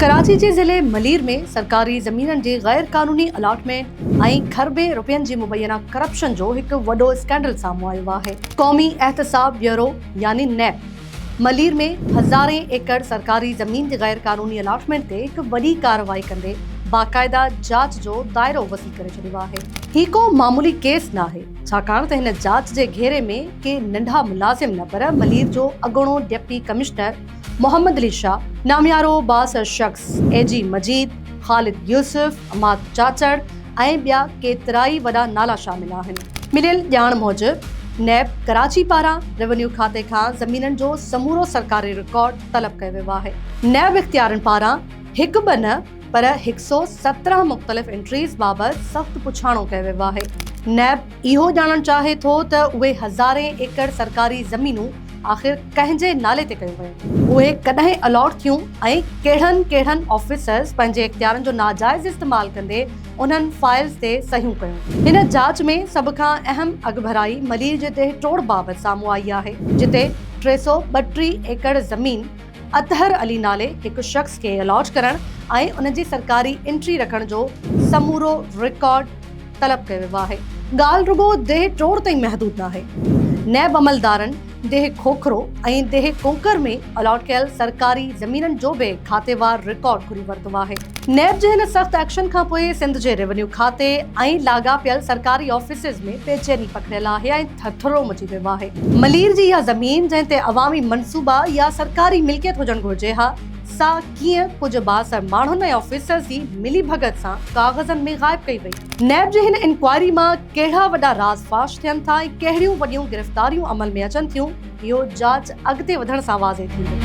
ڪراچي جي ضلعي ملير ۾ سرڪاري زمينن جي غير قانوني الاٽمينٽ ۽ کربين روپين جي مبينا ڪرپشن جو هڪ وڏو اسڪينڊل سامهون آيو آهي. قومي احتساب بيورو يعني نيب ملير ۾ هزارين ايڪڙ سرڪاري زمين جي غير قانوني الاٽمينٽ تي هڪ وڏي ڪارروائي ڪندي باقاعده جاچ جو دائرو وسيع ڪري ڇڏيو آهي. هي ڪو معمولي ڪيس ناهي، ڇاڪاڻ ته هن جاچ جي گهيري ۾ ڪي ننڍا ملازم نه پر ملير جو اڳوڻو ڊپٽي ڪمشنر محمد علي شاهه، ناميارو بااثر شخص اي جي مجيد، خالد يوسف، عماد چاچڙ ۽ ٻيا ڪيترائي وڏا نالا شامل آهن. مليل ڄاڻ موجب نيب ڪراچي پاران روينيو کاتي کان زمينن جو سمورو سرڪاري رڪارڊ طلب ڪيو ويو آهي. نيب اختيارين پاران هڪ ٻه نه پر هڪ سؤ سترهن مختلف انٽريز بابت سخت پڇاڻو ڪيو ويو آهي. نيب اهو ڄاڻڻ چاهي ٿو ته اهي هزارين ايڪڙ سرڪاري زمينون آخر ڪنهن جي نالي تي ڪيون ويون؟ اهي ڪڏهن الاٽ ٿيون ۽ ڪهڙن ڪهڙن آفيسرز پنهنجي اختيارن جو ناجائز استعمال ڪندي انهن فائلز تي صحيحون ڪيون؟ هن جاچ ۾ سڀ کان اهم اڳڀرائي ملير جي ديهه ٽوڙ بابت سامهون آئي آهي، جتي ٽي سؤ ٻٽيهه ايڪڙ زمين اطهر علي نالي هڪ شخص کي الاٽ ڪرڻ ۽ ان جي سرڪاري انٽري رکڻ جو سمورو رڪارڊ طلب ڪيو ويو آهي. ڳالهه رڳو ديهه ٽوڙ تائين محدود ناهي. نيب عملدارن ديهه کوکرو ۽ ديهه ڪوڪر ۾ الاٽ ڪيل سرڪاري زمينن جو به کاتيوار رڪارڊ گهري ورتو آهي. نيب جي هن سخت ايڪشن کانپوء سنڌ جي روينيو کاتي ۽ لاڳاپيل سرڪاري آفيسز ۾ بيچيني پکڙيل آهي ۽ ٿرٿرو مچي ويو آهي. ملير جي اها زمين جنهن تي عوامي منصوبا يا سرڪاري ملڪيت هجڻ گهرجي ها سا ڪيئن ڪجهه بااثر ماڻهن ۽ آفيسرز جي ملي ڀڳت سان ڪاغذن ۾ غائب ڪئي وئي. نيب جي هن انڪوائري مان ڪهڙا وڏا راز فاش ٿين ٿا ۽ ڪهڙيون وڏيون گرفتاريون عمل ۾ اچن ٿيون اهو جاچ اڳتي وڌڻ سان واضح ٿيندو.